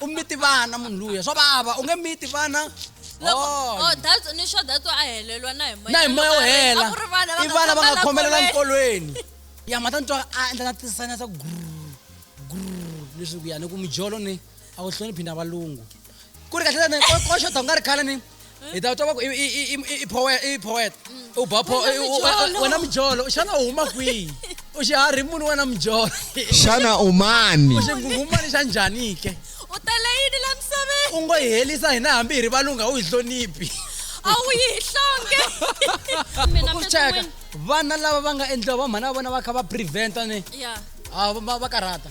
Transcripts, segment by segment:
u miti vana munhu luya swa vava u nge miti vana loko Oh. oh, that's- ni sure that's why a helelwa na hi moya na hi moya wo hela A ku ri vana va i nga vana va nga khomela khomelela nkolweni. nkolweni ya ma ta ni twa a endla na tisana ta gru gru leswi ku ya ni ku mijolo ni a ku hloniphi na valungu ku ri kahle tani ko xo donga ri khala ni hi ta twa ku i poet i poet u ba po wena mjolo xana u huma kwihi u xi hari munhu wena mjolo xana u mani u xi ngungumani xa njhani ke u tele yini la misaveni u ngo hi helisa hina hambi hi ri valunga u hi hloniphi a wu yi hi hlonge mina mbetin'wini vana lava va nga endliwa va mhana va vona va kha va preventa ni va karhata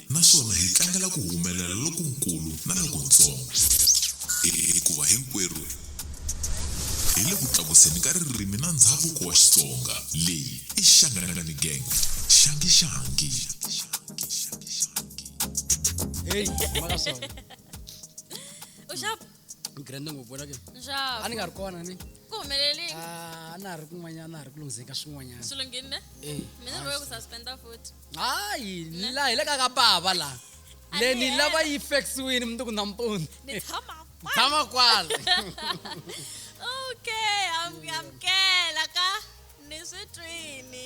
naswona hi tlangela ku humelela lokunkulu na lokuntsongo, hikuva hinkwerhu hi le ku tlakuseni ka ririmi na ndzhavuko wa Xitsonga. Leyi i Shangani Gang, Shangi Shangi. Hey, maka swona. grande ngopfu wena ke a nxavo ni nga ri kona ni ku humelelini Ah, a na ha ri kun'wanyana na ha ri ku lunghizeni ka swin'wanyana swi lunghini ne Eh, mina ni boye ku suspenda futhi hayi la hi le ka ka bava la A le ni ni lava hela. yi fexiwini mundzuku nampundzu ni tshama kwala. tshama kwala okay am- amukela ka ni swi twini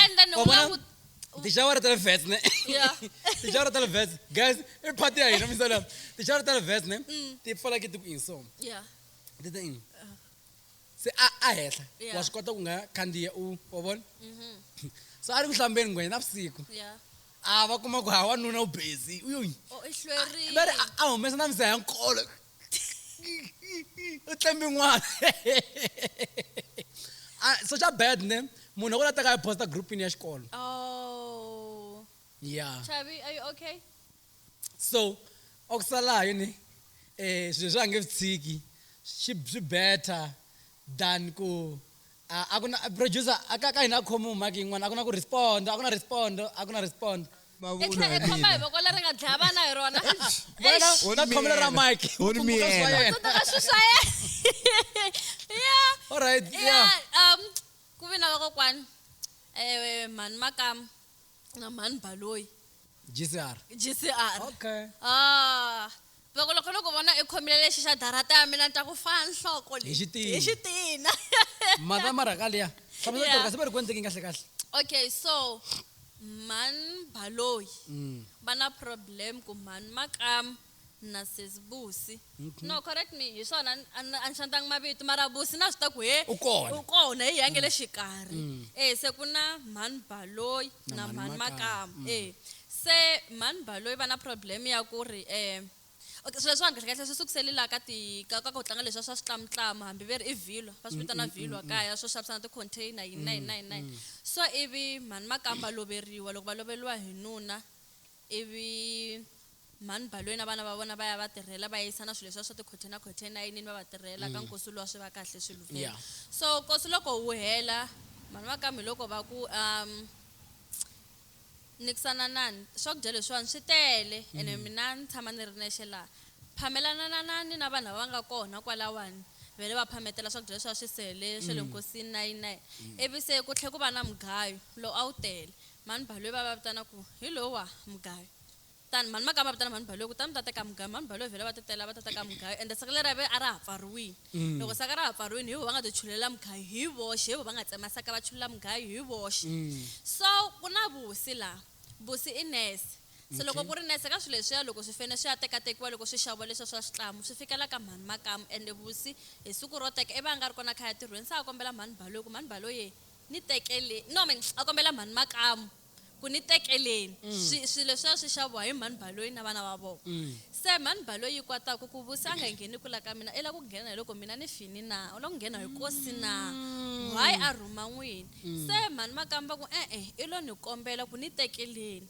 and then u nga ku tixawara ta le ves ne tixawara ta le ves guys i party ya hina misa lama tixawara ta le ves ne mm. ti pfala ke ti ku inso ti ta ini uh-huh. se a a henhla wa swi kota ku nga khandziya u wa vona mm-hmm. so a ri ku hlambeni ngwenya na vusiku a va kuma ku ha wanuna u busy u yo oh, va ri a humesa na misa ya nkolo u tlembe n'wana ah, so xa bad ne munhu loko la teka a posta groupini ya xikolo oh. yeah Chavi, are you okay so okusalayo yini eh swilo swa nge tshiki swi better than ku A a ku na producer a ka ka hina a khomiwi mic yin'wana a ku na ku respond a ku na respond a ku na respond. I tlhe i khoma hi voko leri nga dlaya vana hi rona. Wena u ta khomela ra mic u tsundzuka swa yena. U tsundzuka swi swa yena. Yeah. Alright yeah. Yeah um ku vi na vakokwani mhani makamu. na mhani baloyi gcr gcr okay ah loko loko loko vona i khomile lexi xa darata ya mina ni twa ku faa nhloko Hi leyi xitina. hi xitina mhaka marhaka liya hlamusela Yeah. yeah. siberi ku endleke kahle kahle okay so mhani baloyi Mm. va na problem ku mhani makam na sesi busi mhm. no correct me hi swona a ni xantanga mavito mara busi na swi ta ku he u kona u kona hi yange le mm. xikarhi mm. e se ku na mhani baloyi na mhani makama mm. e se mhani baloyi va na problem ya ku ri um swilo swa kahle kahle swi sukusele laha ka ti ka ka ku tlanga leswi swa switlamutlama hambi ve ri i vhilwa va swi vitana vhilwa kaya swo xavisana ti-container yini na yini na yini na yini so ivi mhani makamba loveriwa loko va loveriwa hi nuna Ivi mhani Baloi na vana va vona va ya va tirhela, va yisa na swilo leswiya swa tikhothe na khothe enayinini va va tirhela, ka nkosi luwa swi va kahle swi luvhela. Yeah. So nkosi loko wu hela, mhani va ka Miloko va ku, Um, nikisananani, swakudya leswiwani swi tele ene mina ni tshama ni ri nexe laha. Phamelananani na vanhu lava va nga kona kwalawani, va hela va phametela swakudya leswiya swi sele swa le nkosini nayini nayini. Ivi se ku tlhela ku va na mugayo lowu a wu tele, Mhani Baloyi va va vitana ku hi lowa mugayo tani mhani makaya va vitana mhani Baloyi kutani va ta teka mugayo mhani Baloyi vhela va ti tela va ta teka mugayo ende saka leri a ra ha pfariwini mm. loko saka ra ha pfariwini hi vo va nga ti chulela mugayo hi voxe hi vo va nga tsema saka va chulela mugayo hi voxe mm. so ku na vusi laha vusi i nese se loko ku ri nese ka swilo leswiya loko swi fene swi ya tekatekiwa loko swi xaviwa leswiya swa switlamu swi fikela ka mhani makamu ende vusi hi siku ro teka i va a nga ri kona khaya tirhweni se a kombela mhani baloyi ku mhani baloyi Ni tekele, no me, a kombela mhani Makamu ku ni tekeleni swi, swilo leswiya swi xaviwa hi mhani Baloyi na vana va vona. Se mhani Baloyi yi kwata ku, Ku Vusi a nga ngheni kula ka mina, i lava ku nghena hi loko mina ni fini na? U lava ku nghena hi kosi na? Why a rhuma n'wini? Se mhani Makamu va ku, E-e, i lo ni kombela ku ni tekeleni.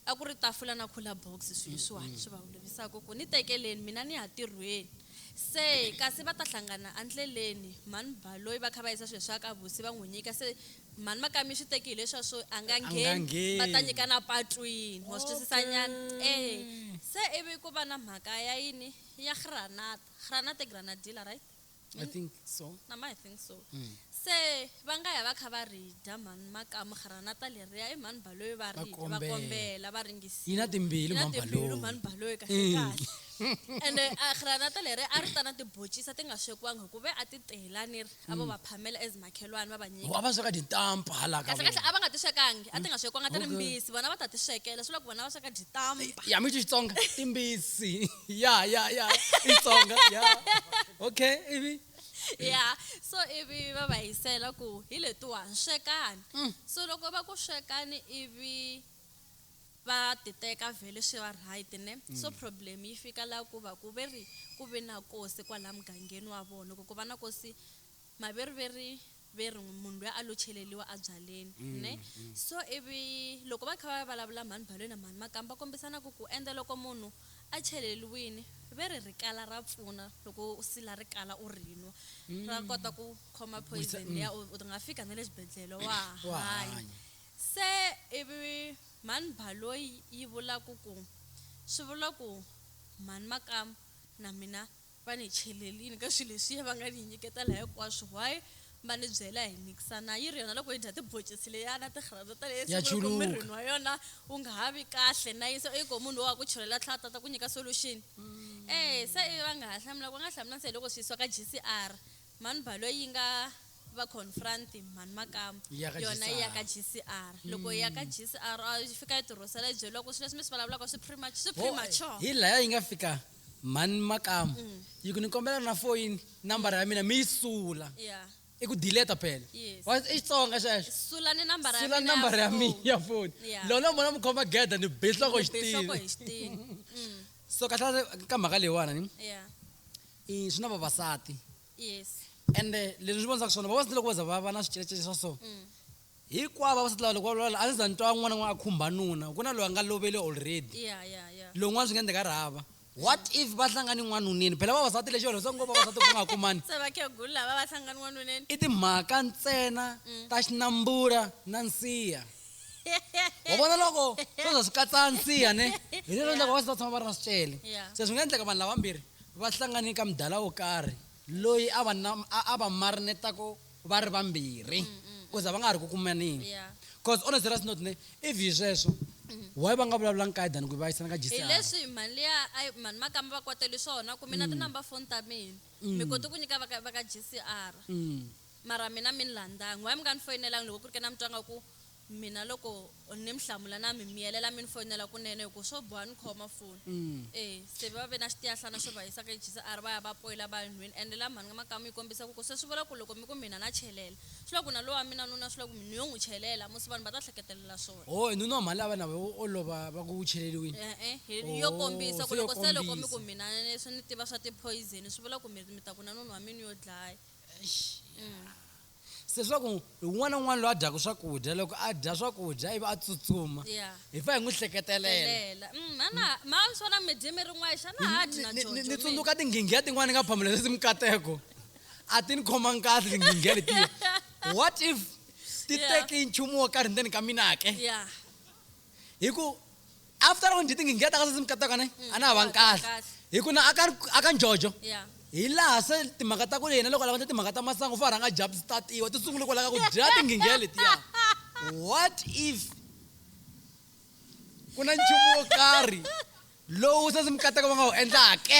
A ku ri tafula na cooler box swi leswiwani swi va holovisaka ku ni tekeleni mina ni ya tirhweni. Se kasi va ta hlangana endleleni mhani Baloyi va kha va yisa swilo swa ka Vusi va n'wi nyika se mhani Makami swi teki hi leswiya swo a nga ngheni va ta nyikana patwini wa swi twisisa nyana e se ivi ku va na mhaka ya yini ya Granata Granata i Granadilla right? I think so. na ma i think so se va nga ya va kha va ri dya mhani makamu granata leriya i mhani baloyi va ri dya, va kombela. kombela va ringisiwa Yi na timbili Yi na mhani timbili Baloyi. mhani baloyi kahle Mm. kahle ende a granata leri a ri ta na tibocisa ti nga swekiwangi hikuve a ti tela ni ri a vo va phamela as makhelwani va va nyika Wa va sweka tintampa hala ka kahlekahle vona. a va nga ti swekangi a ti nga swekiwanga ti ri Okay. mbisi vona va ta ti swekela swi vula ku vona va sweka dyitamba Ya mi Xitsonga timbisi. ya ya ya itsonga ya okay ivi ya so ivi va va hisela ku hi letiwani swekani mm. so loko va ku swekani ivi va titeka vhele swi va right ne mm. so problem yi fika laha ku va ku ve ri ku ve na kosi kwalaha mugangeni wa vona ku ku va na kosi maveriveri ve ri n'wi munhu luya a lo cheleliwa abyaleni ne so ivi loko va kha va vulavula mhani Balwe na mhani Makamu va kombisana ku ku ende loko munhu a cheleliwini ve ri rikala ra pfuna loko u sila rikala u ri nwa ra kota ku khoma poison liya u u nga fika na le xibedhlele wa ha Wa ha hanya hanya. se ivi mhani Baloyi yi vula ku ku swi vula ku mhani Makamu na mina va ni cheleli yini ka swilo leswiya va nga ni nyiketela hinkwaswo why va ni byela hi mikisa na yi ri yona loko yi dya tiboncisi leya na tirhandza ta leyi Ya sungula ku chuluka. mirini wa yona u nga ha vi kahle na yi se i ko munhu lowa a ku chelela tlhela a tata ku nyika solution eh se ivi va nga ha hlamula va nga hlamula se hi loko swi yisiwa ka GCR mhani balo yi nga va confront mhani makamu Yi ya ka yona yi ya ka GCR. GCR loko yi ya ka GCR a yi fika yi tirhosela yi byeriwa ku swilo leswi mi swi vulavulaka swi premature swi Ho, premature hi laya yi nga fika mhani makamu mm. yi ku ni kombela na foyini nambara ya mina mi yi sula yeah. i ku dileta phela yes. i xitsonga xexosulani nambara ya mi ya foni yeah. lolo mona mi khoma geda ni bihloko xitini mm. so kahlale ka mhaka leyiwana ni yeah. i swi na vavasati yes. ende leswi ni vonisaka swona vavasati loko va za va va na swicecece swa so mm. Hikwavo vavasati lava loko va vulavula a ndzi za ni twa n'wana n'wana a khumba nuna ku na loyi a nga lovele already Yeah, yeah, yeah. lowu n'wana swi nga endleka a ri hava what if va hlangani n'wanuneni phela vavasati lexi va rhandzaka ngopfu vavasati ku nga ha kumani Se vakhegulu lava va hlangana n'wanuneni. i timhaka ntsena ta xinambula na nsiha wa vona loko swo za swi katsa nsiha ne hi leswi endlaka vavasati va tshama va ri na swicele Yeah. se swi nga endleka vanhu lavambirhi va hlangane ka mudala wo karhi loyi a va na a- a va marinetako vha ri vhambiri mm, mm, mm. uza vha nga ha ri ku kumanini yeah. cause on a serious note ne if hi sweswo mm-hmm. why va nga vulavula nkaye than ku vayisana ka jisihileswi leswi mali ya mani makamba va kwateli swona ku mina mm. tinumber phone ta mina mm. mi kote ku nyika va ka g c r mara mina mi ni landangi why mi nga ni foyinelangi loko ku ri ke na mi twanga ku Mina loko ni mi hlamula na mi miyelela mi ni foyinela kunene hi ku swo boha ni khoma foni. E, se va ve na xitiyahlana xo va yisa ka HCR va ya va poyila va ya nhwini ende la mhani ka makamu yi kombisa ku ku se swi vula ku loko mi ku mina na chelela swi vula ku na lowa mina nuna swi vula ku mi ni yo n'wi chelela musi vanhu va ta hleketelela swona. Oho, nuna wa mhani la va na vo o lova va ku u cheleliwini? E-e, hi yo Oho, kombisa ku se yo loko se loko mi ku kombisa. mina leswi ni tiva swa ti poison swi vula ku mi mi ta ku na nuna wa mina u yo dlaya. Eish, ya. Leswaku un'wana na un'wana loyi a dyaka swakudya loko a dya swakudya ivi a tsutsuma ya hi fa hi n'wi hleketelela telela Mm, a na ma swi vona mi dye mi ri n'wayi xana a ha dyi na Ni- ni- ni jojo mi? tsundzuka tinghingiya tin'wana ni nga phamula leswi mikateko a ti ni khomangi kahle tinghingiya letiya what if ti Yeah. teke nchumu wo karhi ndzeni ka mina ke ya hi ku after loko njhe tingingheta ka sesi mikataka ne mm, a na ha vangi kahle hi ku na aka njojo hi laha se timhaka ta ku yena loko lava nje timhaka ta masangu fa rhanga jabu statiwa ti sungule kwalaka ku dya tinginghe letiya what if ku na nchumu wo karhi lowu sesi mikataka va nga wu endlake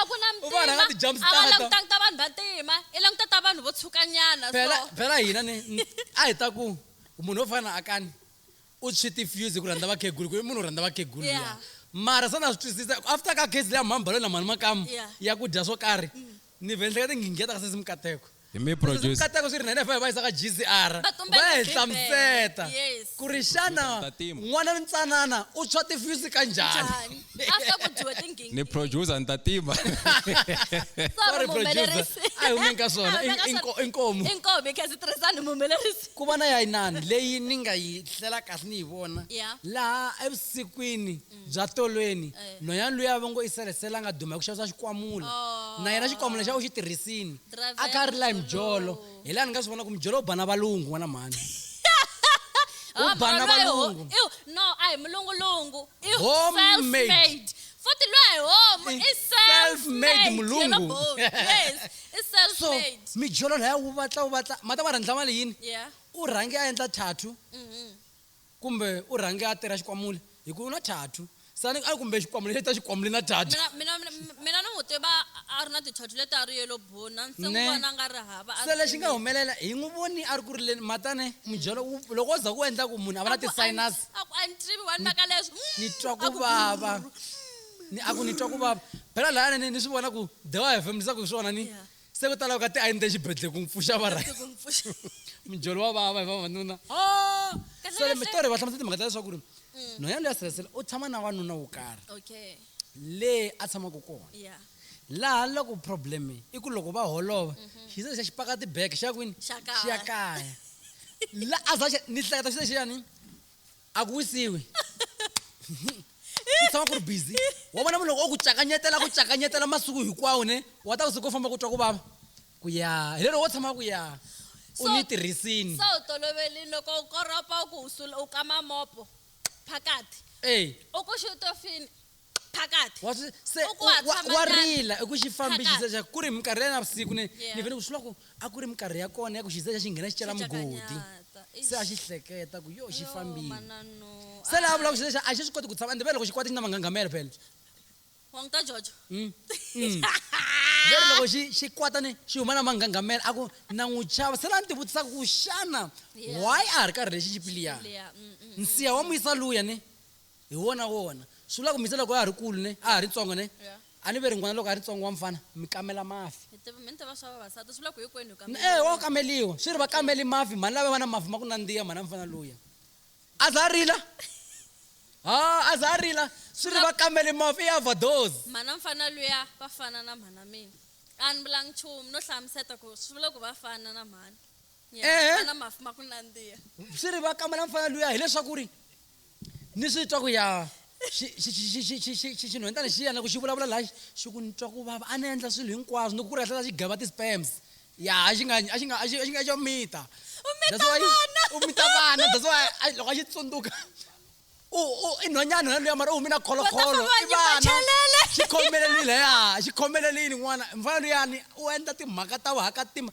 a ku na U vona nga ti-jump mtima a va starter. langutangi ta vanhu va ntima i languta ta vanhu vo tshukanyana phela so phela hina ni ni- a hi ta ku munhu wo fana na akani u tshwi ti-fuse hi ku rhandza vakhegulu ku i munhu wo rhandza vakhegulu Yeah. luya. mara se na swi twisisa ku after ka case leya mhani balo na mhani makamu Yeah. ya ku dya swo karhi ni vhe ni hleketa ngingiya ta ka sesi mikateko hi mi producer katako swi ri nene va yisa ka gcr Va tumbela va hi Bibele. hlamuseta Yes. ku ri xana Ku ta tima. n'wana ntsanana u tshwa tifyusi ka njhani njhani after ku dyiwa tingingi ni producer ni ta tima sorry muhumelerisi a hi humeni ka swona A hi humeni ka I- i nko- swona. i nkomu i nkomu hi khensa tirhisani muhumelerisi ku va na ya inani leyi ni nga yi hlela kahle ni yi vona Yeah. laha evusikwini bya tolweni nhwanyana luya a va ngo i selesela a nga duma hi ku xavisa xikwamula na yena xikwamula xa u xi tirhisini a kha a rila hi mijolo hi laha ni nga swi vona ku mijolo u ba na valungu n'wana mhani u ba na valungu no a hi mulungulungu i self-made futhi loyi hi homu i self-made mulungu yes i self-made so mijolo laya wu vatla wu vatla mata wa rhandla mali yini u rhange a endla thathu mm-hmm. kumbe u rhange a tera xikwamule hi ku u na thathu sani a kumbe xikwamule xi ta xikwamule na thathu mina mina ni n'wi tiva a ri na tithothu leti a ri yelo buna se n'wi vona nga ri hava se lexi nga humelela hi n'wi voni a ri ku rileni matane mudyelo loko wo za ku endla ku munhu a va na ti-sinus a ku a ni tivi wani maka leswi ni twa ku vava ni a ku ni twa ku vava phela laya ni ni swi vona ku the wa hefemulisa ku hi swona ni se ku ta lava ka ti a ni te xibedhlele ku n'wi pfuxa va right mijolo wa vava hi vavanuna ah! so le mitori va hlamusela timhaka ta leswaku ri mm. nhwanyana loyi ya sirhelisela u tshama na wanuna wo karhi leyi a tshamaka kona laha loko problem i ku loko va holova mhm. xi se xa xi paka tibeke xa kwini xi ya kaya la a za ni hleketa xi lexiyani a ku wisiwi ku tshama ku ri busy wa vona munhu loko o ku cakanyetela ku cakanyetela masiku hinkwawo ne wa ta ku siku famba ku twa ku vava ku ya hi lero wo tshama ku ya u ni tirhisini se u tolovelini loko u koropa u ku u kama mopo phakati e u ku xi u to fini phakathi wa swi se U ku wa- wa- hatshama wa nyana. rila i ku xi fambi Phakathi. xisexa ku ri minkarhi ya navusiku ni Yeah. ni vele ku swi loko a ku ri minkarhi ya kona ya ku xisexa xi nghena xi cela mugodi Xicakanyata. Eish. se a xi hleketa ku yo xi Yo, fambile manano. se laha vula ku Ai, xisexa a xi swi koti ku tshama ende vele loko xi kwata xi na manghangamelo phela wa n'wi ta jojo Mm. Mm. veri loko xi xi kwata ni xi huma na manghangamela a ku na n'wi chava se la ni tivutisaka ku xana Yeah. why a ha ri karhi lexi xi piliya Leya, mm, mm, mm. nsiya wa muyisa luya ni Hi wona wona. Swi vula ku mi se loko a ha ri kulu ne, a ha ri ntsongo ne, Yeah. a ni ve ri n'wana loko a ri ntsongo wa mfana, mi kamela mafi. Mi tiva, mi ni tiva swa vavasati, swi vula ku hinkwenu hi kameriwa. Eya, wa kameliwa. Swi ri va kameli mafi, mhani lava va na mafi ma ku nandziha, mhani ya mfana luya. A za a rila? Haa, a za a rila? Swi ri va kameli mafi, i overdose. Mhani ya mfana luya va fana na mhani ya mina. A ni vulanga nchumu, no hlamuseta ku swi vula ku va fana na mhani. Yeah, Ehe. va na mafi ma ku nandziha. Swi ri va kamela mfana luya hileswaku ri ni swi twa ku ya xinhwentana xi ya na ku xi vulavula laha xi ku ni twa ku vava a ni endla swilo hinkwaswo ni ku ku ri hlela xi gava ti-spams ya a xi nga a xi nga a xi a xi nga xo mita u mita vana that's why loko a xi tsundzuka u u i nhwanyana nhwana luya mara u hume na kholokholo i vana xi khomelelile ya xi khomelelile n'wana mfana luyani u endla timhaka ta vuhakatima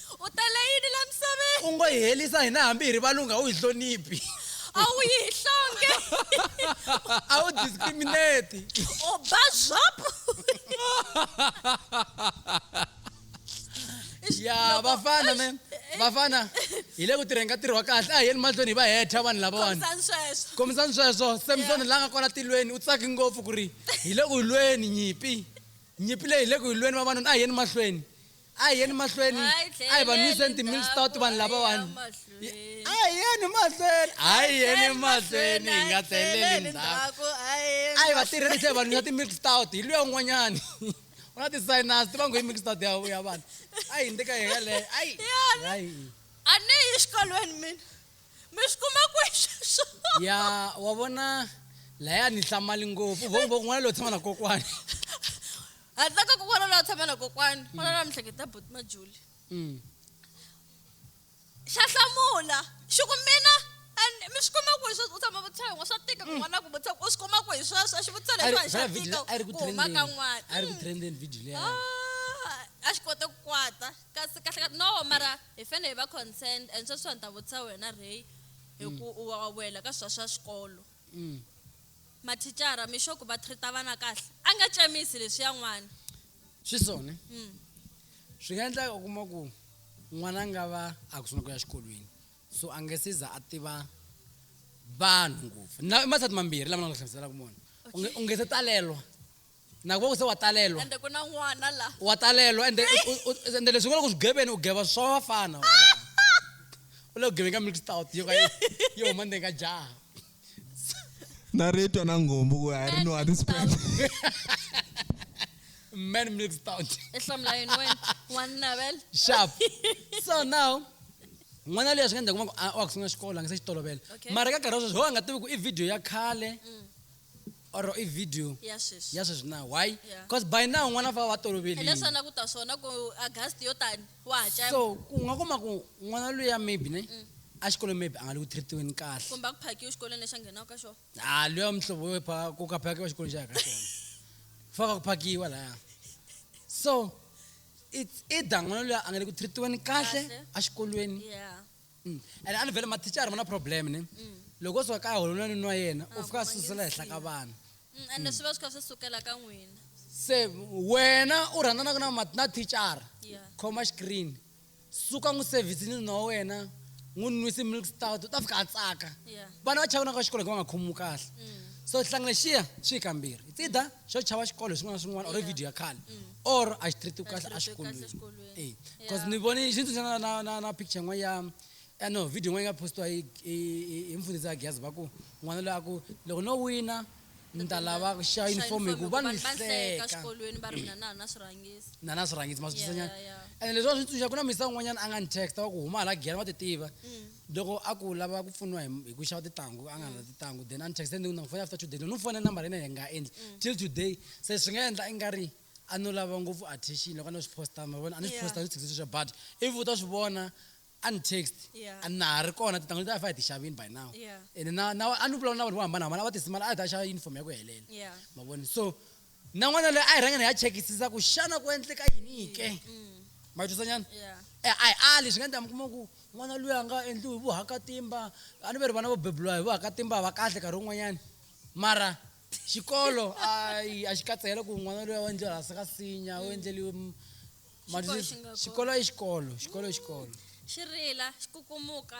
U tele yini la misaveni? U ngo hi helisa hina hambi hi ri valungu a wu hi hloniphi. A wu yi hi nhlonge. A wu discriminate. U ba zop. Yaa vafana man vafana hi le ku tirheni ka ntirho wa kahle a hi yeni mahlweni hi va heta vanhu lavawani Khomisani sweswo. kombisani sweswo samsoni la nga kwala tilweni u tsaki ngopfu ku ri hi le ku lweni nyimpi nyimpi leyi hi le ku yi lweni vavanuna a hi yeni mahlweni a hi yeni mahlweni a hi va nwiseni timil stout vanhu lavawani a hi yeni mahlweni a hi yeni mahlweni hi nga tlheleli ndzhaku a hi va tirhelise hi va nwisa timil stout hi luya un'wanyani u na ti-sinus ti va ngo yi mil stout ya vanhu a yi ndika hi yeleyo ayi a ni yi exikolweni mina mi swi kuma kwexeswo ya wa vona laya ni hlamali ngopfu vongo von'wana loyi tshama na kokwani ha tsaka kokwana la tshama na kokwana mm. kwana la mihleketa boti majuli mm. xa hlamula xi ku mina mi swi kuma ku hi sweswo u tshama vutisa yin'we swa tika mm. kun'wana ku vutisa u swi kuma ku hi sweswo a xi vutisa leswiwani xa tika ku huma ka n'wana a ri ku trenden video leya a xi kote ku kwata kasi kahle ka no mara hi fanele hi va concerned and sweswiwa ni ta vutisa wena rey hi ku u wa wela ka swa swa xikolo Mm. Mathicara, mi xo ku va treat-a vana kahle. A nga tsemisi leswiya n'wana. Swi so ne? Mm. Swi nga endleka u kuma ku n'wana a nga va a ku sungula ku ya xikolweni, so a nge se za a tiva vanhu ngopfu. Na i masati mambirhi lama ni nga ku hlamuselaka mona. U nge- u nge se talelwa. naku va ku se wa talelwa ende ku na n'wana la wa talelwa ende ende leswi nga loko swigebeni u geva swa vafana u le ku geveni ka mixed out yo ka yi huma ndzeni ka jaha na ritwa na ngombo ku a ri nwa tispend man mixed out ehlamula yini wena wannavel sharp so now n'wana leyi swi nga ndza kuma ku wa ku sungula xikolo a nga se xi tolovela mara ka nkarhi wa sweswi ho a nga tivi ku i video ya khale mm. or i video ya sweswi ya sweswi na why Yeah. because by now n'wana va va toloverile hileswi a na ku ta swona ku agast yo tani wa ha cema so ku nga kuma ku n'wana luya maybe ne exikolweni maybe a nga le ku treatiweni kahle kumbe a ku phakiwe xikolweni lexi a nghenaka ka xona ha luya mihlovo yo pha ku ka phakiwa xikolweni xa yaka xona faka ku phakiwa laya so it's either n'wana luya a nga le ku treatiweni kahle Kahle. exikolweni ya Mm. And a ni vele mathicara ma na problem ne. Mm. Loko swa ka holo na ni nwa yena, u fika susela hehla ka vana. Mm, and mm. swi va swi kha swi sukela ka n'wina. Se wena u rhandzanaka na na thicara. Yeah. Khoma screen. Suka n'wi service ni nwa wena. n'wi nwisi milk stout ta fika a tsaka vana va chavana ka xikolo hi ku va nga khomiwi kahle mm. so hlangana xiya xi yi kambirhi it's either xo chava xikolo hi swin'wana na swin'wana or video ya khale mm. or a xi treat kahle a xikolweni e because ni vone xi ndzi tsundzuxa na na na picture yin'wana ya eh, no video yin'wana yi nga postiwa hi hi- hi mfundhisi ya geza va ku n'wana loyi a ku loko no wina ni ta lava ku xa uniform hi ku va ni hleka xikolweni va ri mina na na swirhangisi na na swirhangisi ma swi Yeah, twisanyana yeah, yeah. ene leswi a swi tsundzuxa ku na misa un'wanyana a nga ni text wa ku huma hala giyani wa ti tiva Loko a ku lava ku pfuniwa hi hi ku xava titanghu a nga na titanghu then a ni texte ni ku na n'wi fona after two days loko ni fona number ya yena yi nga endli till today se swi nga endla i nga ri a no lava ngopfu attention loko a no swi posta ma vona a ni swi Yeah. posta ni swi texte sweswiya but if u ta swi vona a ni text Yeah. a na ha ri kona titanghu leti a hi fa hi ti xavini by now Yeah. ene na na a ni vulavula na vanhu vo hambanahambana a va tisimala a hi ta xava uniform ya ku helela Yeah. ma vona so nan'wana loyi a hi rhangeni hi ya chekisisa ku xana ku endleka yini ke ma yi twisanyana Yeah. e a hi ali swi nga endla mi kuma ku n'wana loyi a nga endliwi hi vuhakatimba a ni ve ri vana vo bebuliwa hi vuhakatimba va kahle nkarhi wun'wanyana mara xikolo ayi a xi katsehela ku n'wana loyi a endliwa hansi ka sinya u endleliwe m- ma Xikolo twisisa? xi nga kona. xikolo i xikolo xikolo i xikolo xi rila xi kukumuka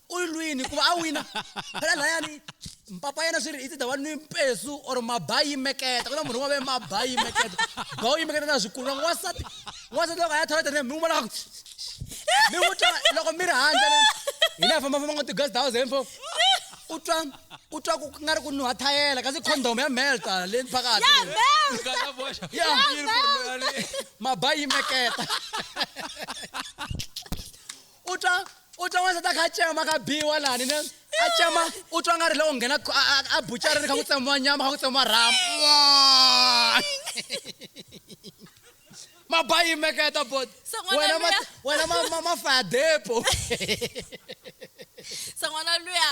u yi lwini ku va a wina phela layani mpapa yena swi ri i ti dava ni mpesu or maba yi meketa ku na munhu wa ve maba yi meketa ba u yi meketa na swikulu loko wasati wasati loko a ya thola tene mi n'wi vona mi n'wi twa loko mi ri handle hi le famba famba ngo ti-guest house info u twa u twa ku nga ri ku nuha thayela kasi condom ya melta le phakathi maba yi meketa u twa u twa wansati a kha a cema ka biwa lani ne a cema u twa nga ri loko nghena a bucareni kha ku tsemiwa nyama kha ku tsemiwa rhamu mabayimeketa bot wena wena mafadepo san'wana luya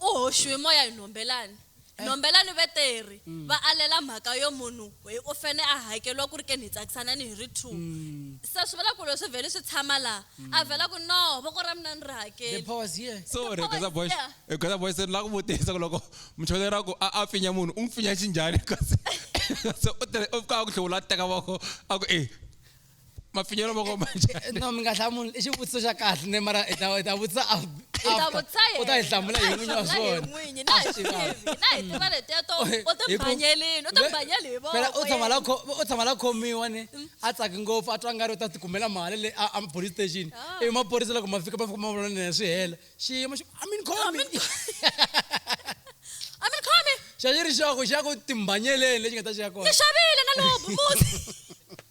U hoxiwe moya hi Nombelani. Nombelani ve teri va alela mhaka yo munhu hoi u fene a hakeriwa ku ri ke ni hi tsakisanani hi ri two. Se swi vula ku loko swi vheli swi tshama laha, a vhela ku no voko ra mina a ni ri The hakeli. power is here. Sorry Gqoza Power is Boys, here. he Gqoza Boys ni lava ku vutisa ku loko muchondzeri a ku a a pfinya munhu u n'wi pfinya xinjhani kasi kasi u tirhe u fika a ku hluvula a teka voko a ku e. mapfinyelo ma komba njhani no mi nga hlamuli i xivutiso xa kahle ne mara i ta i ta vutisa af- ta after. vutisa yena. u ta yi hlamula hi n'winyi wa Na hi swona n'winyi, na hi tivi, na hi tiva leteto u Hi ku- timbanyelini u timbanyeli hi Phela u tshama la voko kho- u tshama la khomiwa ni a tsaki ngopfu a twa nga ri u ta tikumela mali le a a police station Ah. ivi maphorisa loko ma fika ma fika ma vona nene swi hela xiyimo xi i mean khomi a mi khomi xa xi ri xoko xa ku timbanyeleni lexi nga ta xi ya kona ni xavile na lobu muti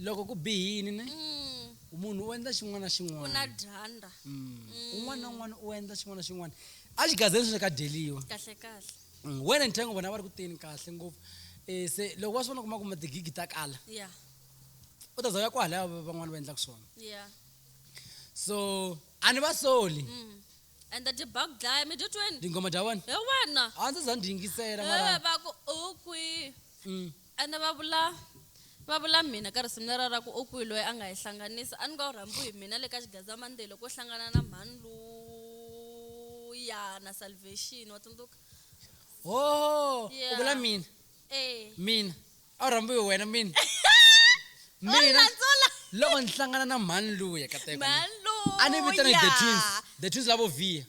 loko ku bihini ne mm. munhu u endla xin'wana na xin'wana dyandza mm. mm. un'wana na un'wana u endla xin'wana na xin'wana a xigazeni sweswi ka dyeliwa kahle kahle mm. wena ni thengo vona va ri ku teni kahle ngopfu um se loko wa swi vona kuma kuma tigigi ta kala yeah. u ta za ya kwahalaya van'wana va endlaka swona yeah. so a ni va soli mm. and the debug dlaya mi dyotweni tinghoma dya wena hi wena a ndzi za ndzi yingisela mara eh, va ku u kwihi mm. Ene va vula, va vula mina ka risimu lera ra ku, U kwihi loyi a nga hi hlanganisa? A ni nga wu rhambiwi hi mina le ka xigandzamandehi loko u hlangana na mhani luya na salvation. Wa tsundzuka? Hooh! U Yeah. vula mina, Eh. mina. A wu rhambiwi hi wena mina. Wa Mina landzula. loko ni hlangana na mhani luya ka teko. Mhani luya. A ni vitana hi The Twins, The Twins lavo Vhiya.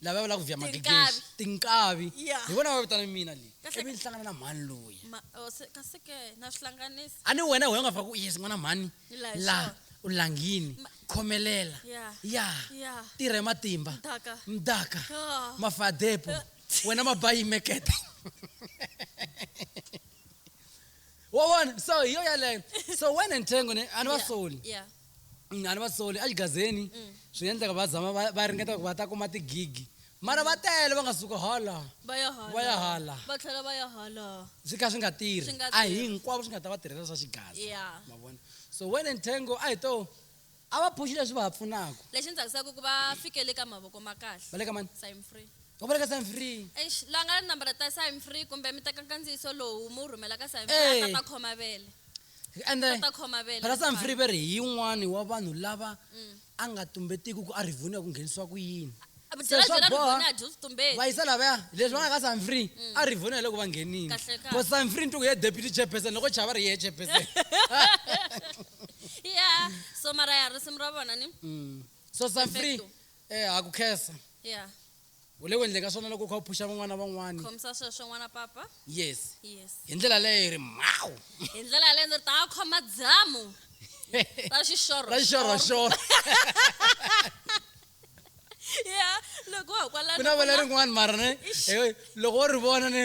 lava va lava ku vya Tinkavi. magigeshi tinkavi Yeah. hi vona va vitana mina leyi Kahle- ivi ni hlangana na mhani loyi Ma- oh, se- kasi ke na swi hlanganisa a ni wena wena u nga fika ku yes n'wana mhani Hi laha hi la swona. u langini Ma- khomelela Yeah. ya Yeah. tirha hi matimba Mdaka. mdaka Ah. mafadepo wena mabayi mekete wa vona so hi yo yaleyo so wena nthengo ni a ni va Yeah, soli yeah. a ni va soli exigazeni mm. swi nga endleka va zama va ringeta ku va ta kuma tigigi mara va tele va nga suka hala va ya hala va tlhela va ya hala swi kha swi nga tirhi a hinkwavo swi nga ta va tirhela swa xigaza ma vona so wen and tango a hi to a va phuxi leswi va ha pfunaka lexi ni tsakisaka ku va fikele ka mavoko ma kahle va le ka mani sign free u vula ka sign free eish la nga nambara ta sign free kumbe mi teka nkandziyiso lowu mu rhumela ka sign free a ta khoma vele Ri endla Kota khoma vele, Brother Sam fine. Free va ri hi yin'wani wa vanhu lava a nga tumbetiki ku a rivoniwa ku nghenisiwa ku yini A mi Se byela swa byela boha, Rivoni a dyi switumbeti. va yisa lavaya leswi va nga ka Sam Free a rivoniwa hi loko va nghenile Kahle kahle. ko Sam Free ni twi ku ye deputy chairperson loko chava ri ye chairperson ya so mara ya risimu ra vona ni Mm. so Sam Free Perfecto. eh ha ku khensa ya u le ku endleni ka swona loko u kha u phuxa van'wana van'wani khomisa sweswo n'wana papa yes yes hi ndlela leyo hi ri mhawu hi ndlela yaleyo ndzi ri ta khoma dzamu ta xixoro ra xixoroxoro ya loko wa ha kwalano ku na vele rin'wana mara ne loko wo ri vona ne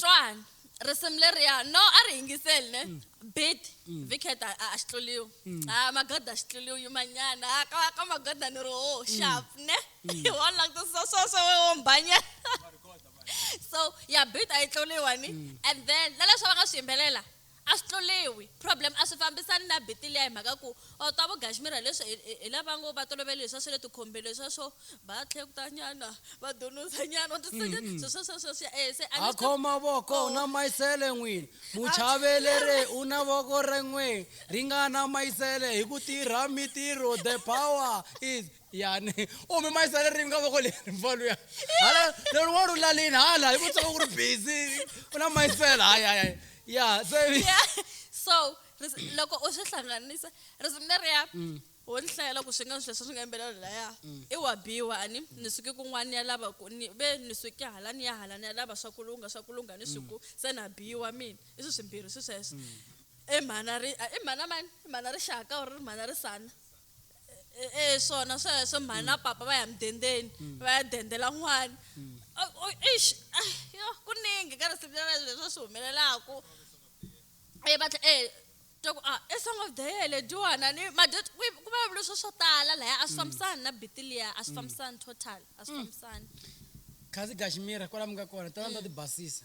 twani risimu leriya no a ri yingiseli ne mm. bit mm. viket a xi tluriwi mm. a ah, magoda a xi tluriwi yimanyana a ah, ka ka magoda ni ri ho sharp ne hi wo languta so so so wo mbanya so ya bit a yi tluriwa ni and then na leswi va nga swi yimbelela a swi tluriwi problem a swi fambisani na biti liya hi mhaka ku or ta vugashmira leswi hi lava ngo va tolovele leswa swa le tikhombeni leswa swo va tlhekuta nyana va dunuza nyana u tisenya mm. swo swo swo swo swo eh se a khoma voko oh. na mayisele n'wini muchavelere u na voko ren'we ringana mayisele hi ku tirha mitirho the power is yani u mi mayisa ririmi ka voko leri mfalo ya hala lero wa ru lalini hala hi ku tsaka ku ri busy u na mayisela hayi hayi ya se so loko u swi hlanganisa risimu leriya mm. wo ni hlayela ku swi nga swi leswi swi nga yimbelelo laya mm. i wa biwa ani mm. ni suke kun'wana ni ya lava ku ni ve ni suke hala ni ya hala ni ya lava swa kulunga swa kulunga ni swiku se na biwa mina i swi swimbirhi swi sweswo i mhana ri i mhana mani i mhana rixaka or ri mhana risana E- e swona sweswo mhani na papa va ya mudendeni va ya dendela n'wana O- o- eish ah, yo ku ningi ka risimu leri leswi swi humelelaku e va tlhe e twa ku ah i song of the year lediwana ni ma dyo ku ku vulavuriwe swo swo tala laya a swi fambisani na biti liya a swi fambisani total a swi fambisani khazi gashimira kwala mi nga kona tala ni ta ti basisa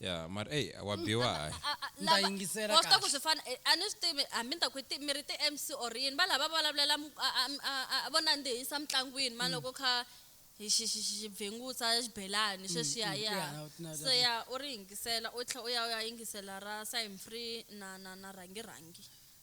ya mara eyi wa biwa hayi A- a- Ndza lava- yingisela wa swi tiva ku kahle. swi fana eh, a ni swi tivi hambi ni ta ku i ti- mi ri ti-mc or yini va lava vulavulela mu- a- a- a- a- a- vo nandzihisa mitlangwini mani loko kha hi xi- xi- xi- xi bvingutsa xibelani sweswiya mm, ya ya, na- na- so ya u ri yingisela u tlhela u ya u ya yingisela ra sime free na na na rhangi rhangi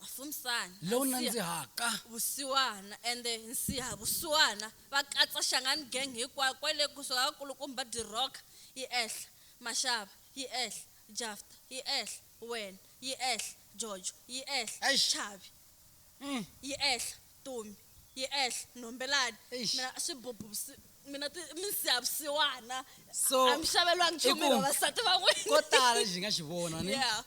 Mafumsani, lowu Nsiha, nandzihaka. Vusiwana, ende Nsiha, Vusiwana, va katsa Shangani Gang hinkwayo kwale kusuka ka Kulukumba De Rock yi ehla, Mashava yi ehla, Jafta yi ehla, Wena yi ehla, Jojo yi ehla, Eish. Chavi Mm. yi ehla, Tumi yi ehla, Nhombelani, Eish. mina Swibubhu Vusi, mina ti, Minsiha Vusiwana, So, a mi xavelwangi i nchumu hi ku- vavasati van'wina. ko tala lexi hi nga xi vona ni Yeah.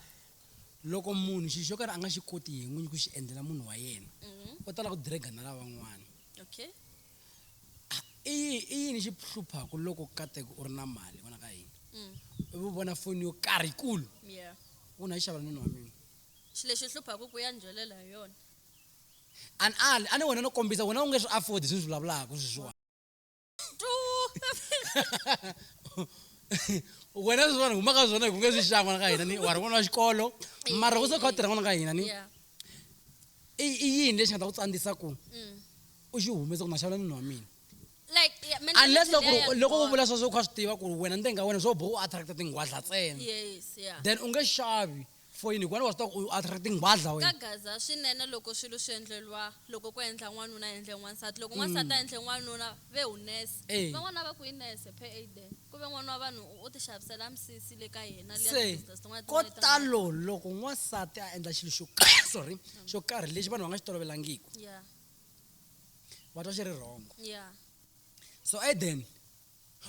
Loko munhu xilo xo karhi a nga xi koti yena n'winyi ku xi endlela munhu wa yena, u tala ku drag-a na lavan'wana. Okay. I yi, i yini xi hluphaku loko kateka u ri na mali n'wana ka hina, ivi u vona foni yo karhi yikulu, Yeah. u na yi xavela nuna wa mina? Xi lexi hluphaku ku ya ni byelela hi yona. A ni ali, a ni wena no kombisa, wena u nge swi afford-i leswi ni swi vulavulaka sweswiwani. wena leswi vanhu humaka swona hi ku nge swi xava n'wana ka hina ni wa ri n'wana wa xikolo mara ku se kha u tirha n'wana ka hina ni i yini lexi nga ta ku tsandzisa ku mm. u xi humesa ku na xavula nini wa mina unless loko loko u vula sweswo u kha swi tiva ku ri wena ntenga wena swo bo u attracta tinghwadla tsena then u nge xavi yeah. Foyini hikuva wa swi tiva ku u athra tinghwadla wena. Ka gaza swinene loko swilo swi endleriwa loko ko endla n'wanuna a endle n'wansati loko n'wansati a endle n'wanuna ve hunese Eya. van'wana a va ku hi nese phe ey de ku ve n'wana wa vanhu u u ti xavisela misisi le ka yena liya Se ti-business tin'wana ko tin'wana leti a nga talo na tona. loko n'wansati a endla xilo xo karhi sorry xo karhi lexi vanhu va nga xi tolovelangiku Yeah va twa xi ri wrong yeah. so ey then.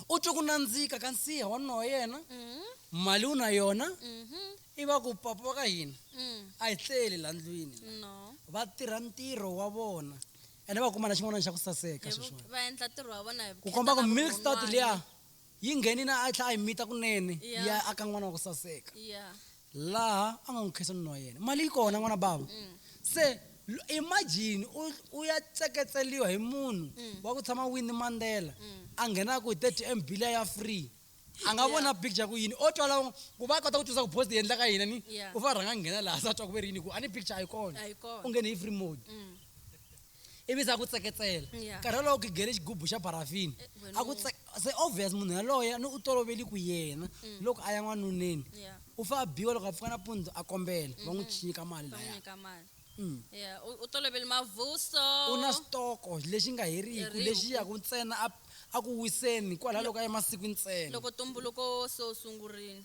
u twe ku nandzika ka nsiha wa nuna wa yena Mm. mali u na yona Mhm. i va ku papa wa ka hina Mm. a hi tleli la ndlwini la. No. va tirha ntirho wa vona ene va kuma na xin'wana xa ku saseka Hi vu- sweswiwani va endla ntirho wa vona hi ku vukheta komba ku na milk start vurhon'wana. liya yi nghenini a tlha a yi mita kunene Yeah. ya aka n'wana wa ku saseka Yeah. laha a nga n'wi nkhensanweni wa yena mali yi kona n'wana bava mm. se imagine u ya tseketseliwa hi munhu mm. wa ku tshama wini mandela mm. a nghenaka hi thirty m bilia ya free a nga vona picture ku yini o twa lawo ku va kota ku twisisa ku post yi endlaka yini ni u va rhanga nghena laha sa twa ku ve ri yini ku a ni picture a yi kona u nghene hi free mode mm. ivi se a ku tseketsela Yeah. nkarhi wolowo ku gele xigubu xa barafini Eh, wena a ku u- tse- se obvious munhu yaloye ni u toloveli ku yena loko a ya n'wanuneni Mm. Yeah. u fa a biwa loko a pfuka nampundzu a kombela va n'wi nyika mali va n'wi laya nyika mali Mm. ya u u tolovele mavuso u na xitoko lexi nga heriki Heriki. lexi yaku ntsena a- a ku wiseni kwalaho loko a ya masiku ntsena loko tumbuluko se u sungurile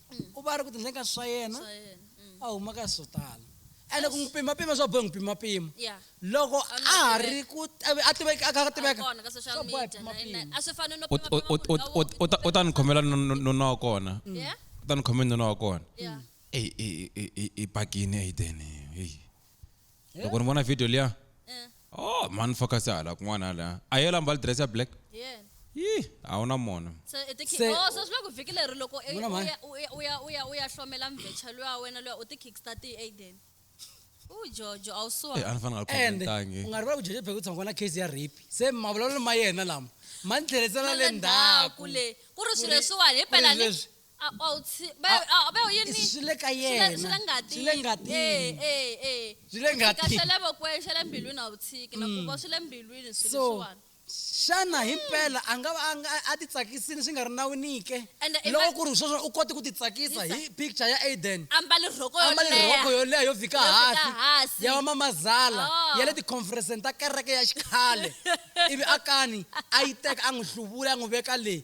mm. u va a ri ku tindleni ka swa yena mm. a huma ka swo tala ene ku n'wi pimapima swa bohe n'wi pimapima loko a ha ri ku a tiveka a kha a tiveka swa bohe pimapima u ta ni khomela nuna wa kona mm. u ta ni khomela nuna wa kona i bakini aiden heyi Eh? loko ni vona video liya Eh. oh mani focus ya hala kun'wana hala a yela mbali dress ya black Yeah. yi a wu na mona So i ti Se- oh so swi la ku vhiki leri loko i- Vona u mhani. ya- u ya- u ya u ya u ya hlomela mvecha luya wena luya u ti kickstart hi Aiden. U jojo a wu Eh, a suwa. ni fanele a and khomentangi u nga rivali ku jeje pheke tshongo na case ya rape se mavulavulelo ma yena lama ma ni tlherisela le ndzhaku le. Ku ri swilo leswiwani hi phela ni. leswi a a wu tshi va A- a va wu yini swi le ka Swi le- yena. swi le ngatini Swi le ngatini. Eh, eh, eh. Swi le Ku tika ngatini. xa le vokweni xa le mbilwini a wu tshiki na ku va swi le mbilwini swilo so leswiwani xana hi mpela a nga va a nga- a ti tsakisile swi nga ri nawini ke And i loko va- ku ri sweswo u kote ku ti tsakisa Yisa. hi picture ya aiden ambale rhoko yo ambale leha. rhoko yo leha yo fika Yo fika hansi hansi. ya vamamazala Ah. ya le ticonferenceni ta kereke ya xikhale ivi a kani a yi teka a n'wi hluvula a n'wi veka le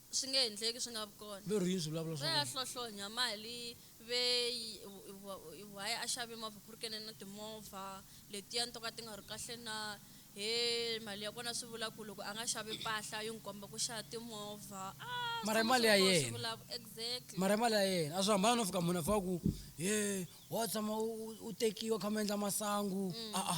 Swi nge endleki swi nga vi kona. Lorry yini swi vulavula swa Ve a kona? hlohlonya mali ve yi why why a xave movha ku ri kene na timovha letiyani to ka ti nga ri kahle na he mali ya kona swi vula ku loko a nga xavi mpahla yo n'wi komba ku xava timovha a swi Mara i tshama mali swi ya ri kona swi yena. vulavula exactly. Mara i mali ya yena a swi hambani no fika munhu a fika a ku he wa tshama u u u tekiwa u kha mi endla masangu a-a.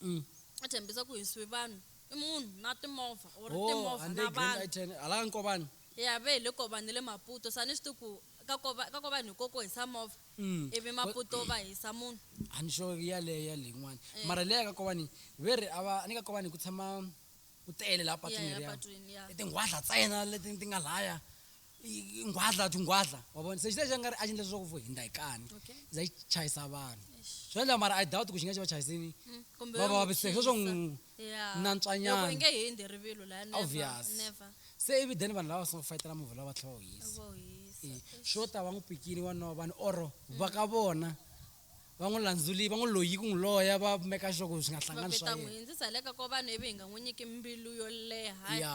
Mm. a tshembisa ku hinsiwi vanhu i munhu na timovha or Oh, timovha and na they green vanhu light and ala nkobani. ya ve hi le kovani ni le maputo sa ni swi tivi ku ka kova ka kovani hi ko ku hisa movha Mm. ivi Ko- maputo va hisa munhu a ni xo yaleyo ya leyin'wana Eh. mara leya ka kovani ve ri a va ni ka kovani ku tshama ku tele laha patwini ya leriya epatwini ya i tinghwadla tsena leti ti nga laya nghwadla ti nghwadla wa vona se xilexi a nga ri a xi endla leswaku vo hindza hi kani Okay. za yi chayisa vanhu Eish. swi endla mara i doubt ku xi nga xi va chayisini Mm, kumbe va yo va n'wi vaviseke sweswo khipa. n'wi Yeah. Loko nantswanyana. i nge hi hindzi rivilo laha never, Obvious. never. se ivi then vanhu lava so fayitela movha lava tlhela va wu yisa Vo hisa. Eh, swo ta va n'wi pikini wanwa vanhu or va ka vona va n'wi landzuli va n'wi loyi ku n'wi loya va meka sure ku swi nga va hlangani swa vita n'wi yena hindzisa le ka ko vanhu ivi hi nga n'wi nyiki mbilu yo leha ya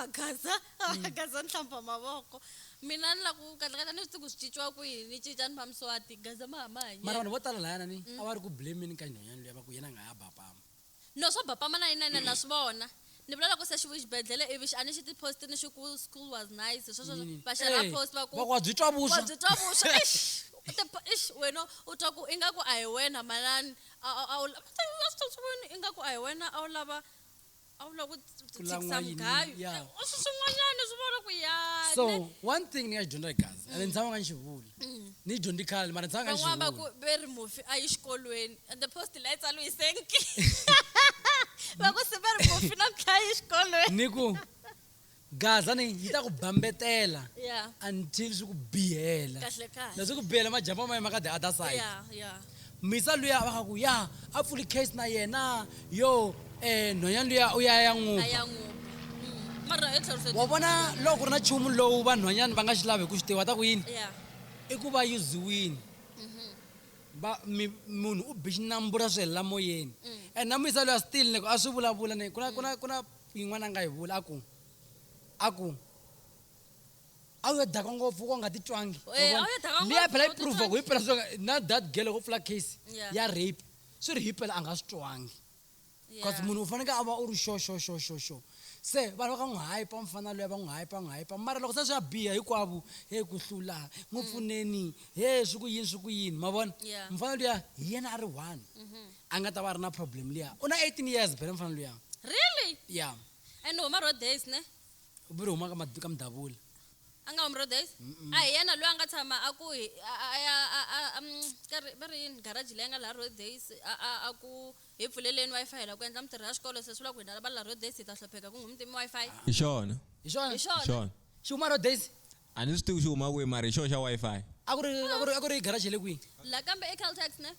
a gaza a gaza ni hlamba mavoko mina ni la ku kahlekahle ni swi tivi ku swi cinciwa ku yini ni cinca ni va muswati gaza ma hama hanyela mara vanhu vo tala layana ni a va ri ku blameni ka nhonyani luya va ku yena a nga ha bapama no swo bapama na yinene na swi vona ni vula loko se xi vu xibedhlele ivi xi a ni xi ti-post ni xi ku school was nice hi sweswo Yini? va xera Eh, post va ku va ku wa byi twa vuswa. wa byi twa vuswa Eish, u ti po- eish, wena u twa ku ingaku a hi wena manani a a- a wu la- va swi twa swi ku yini? ingaku a hi wena a wu lava a wu lava ku tsi- Ku tshikisa lan'wa yini? mugayo Ya. Eh, u swi swin'wanyana swi vona ku yani so one thing ni nga xi dyondza gazi ende ni tshama nga ni xi vula ni yi dyondzi khale mara ni tshama nga ni xi van'wana va ku vula ve ri mufi a yi xikolweni and the post la yi tsalo hi senki va ku se ve ri mufi na mtlha yi xikolweni ni ku Gaza ni yi ta ku bambetela Yeah. until swi ku bihela Kahle kahle. leswi ku bihela majampa ma yena ma ka the other side ya ya misa luya va nga ku ya a pfuli case na yena yo um nhwanyana luya u ya ya a n'wupa ya n'wupa Mm. mara hi tlhelo wa vona loko ku ri na nchumu lowu vanhwanyana va nga xi lavi hi ku swi tiva ta ku yini ya i ku va yuziwini va mi- munhu u bi xinambu ra swi helela moyeni and na muyisa loyi a still ni ku a swi vulavula ni ku na ku na ku na Yin'wana a nga yi vula, a ku, a ku, A wu yo daka ngopfu wa nga ti twangi. Eh, Wa vona? a wu yo daka Leyi ngopfu, phela yi u ti prove-a ku twangi. himpela swi nga- na that girl loko u pfula case Yeah. ya rape swi ri himpela a nga swi twangi because Yeah. munhu u faneke a va u ri sure sure sure sure sure se vanhu va ka n'wi hype mufana luya va n'wi hype va n'wi hype mara loko se swi ya biha hinkwavo he ku hlula n'wi pfuneni he swi ku yini swi ku yini ma vona Mm. Yeah. mufana luya hi yena a ri one a nga ta va a ri na problem liya u na 18 years bele mfana luya really ya and huma road days ne u biri huma ka mad- ka mdabula a nga humi road days a hi yena loyi a nga tshama a ku hi- a- a- a ya a- a- a- mm, ka ri- va ri yini garaji leyi nga laha road days a- a a ku hi pfuleleni wi-fi hi la ku endla mitirho ya xikolo se swi vula ku hina va la road days hi ta hlopheka ku nghumutimi wi-fi hi xona hi xona hi xona xona xi huma road days a ni swi tivi xi huma kwihi mara hi xoho xa Wi-Fi. A ku ri a ku ri a ku ri garage le kwihi? La kambe e Caltex ne?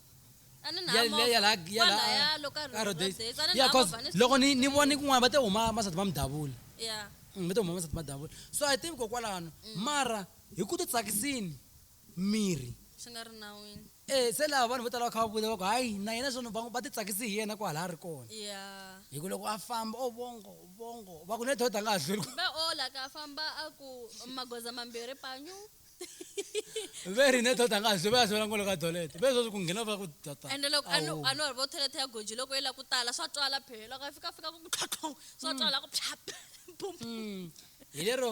A ni na Ya le ya la movha. ya la Kwala ya a loka a Rhodes. Rhodes. A ni Ya na cause movha ni swi loko ni ni vona kun'wana va te huma masati ma mudavula. Yeah. Va te huma masati ma mudavula. So a hi tivi ko kwalano mara hi ku titsakisini mirhi swi nga ri nawini e se laha vanhu vo tala va kha va vula va ku hayi na yena swona va va titsakisi hi yena kwala a ri kona ya hi ku loko a famba o vongo vongo va ku ne doda a nga ha hlweli va ola ka famba a ku magoza mambirhi panyu ve ri ne doda a nga ha hlweli va ya sivela ngolo ka dolete ve sweswi ku nghena va ku tata ende loko a no a no vo toilet ya goji loko yi la ku tala swa twala phela loko a fika fika ku tlhotlhong swa twala ku phap bum hi lero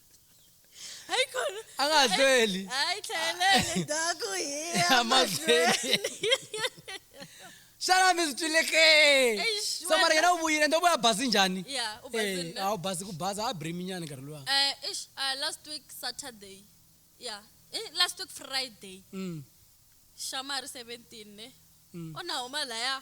ariko a nga ha hlweli hayi tlheleleni ndhaku hi ya a mahlweni xana mi swi twile ke Eish, so mara wena- yena u vuyile ndo vuya bazi njhani ya u basile Eh, a wu bazi ku baza a briminyana nkarhi luwa Eh, ish, uh, last week Saturday. Yeah. Eh, last week Friday. Mm, Shamari 17 ne. mm. Ona huma laya.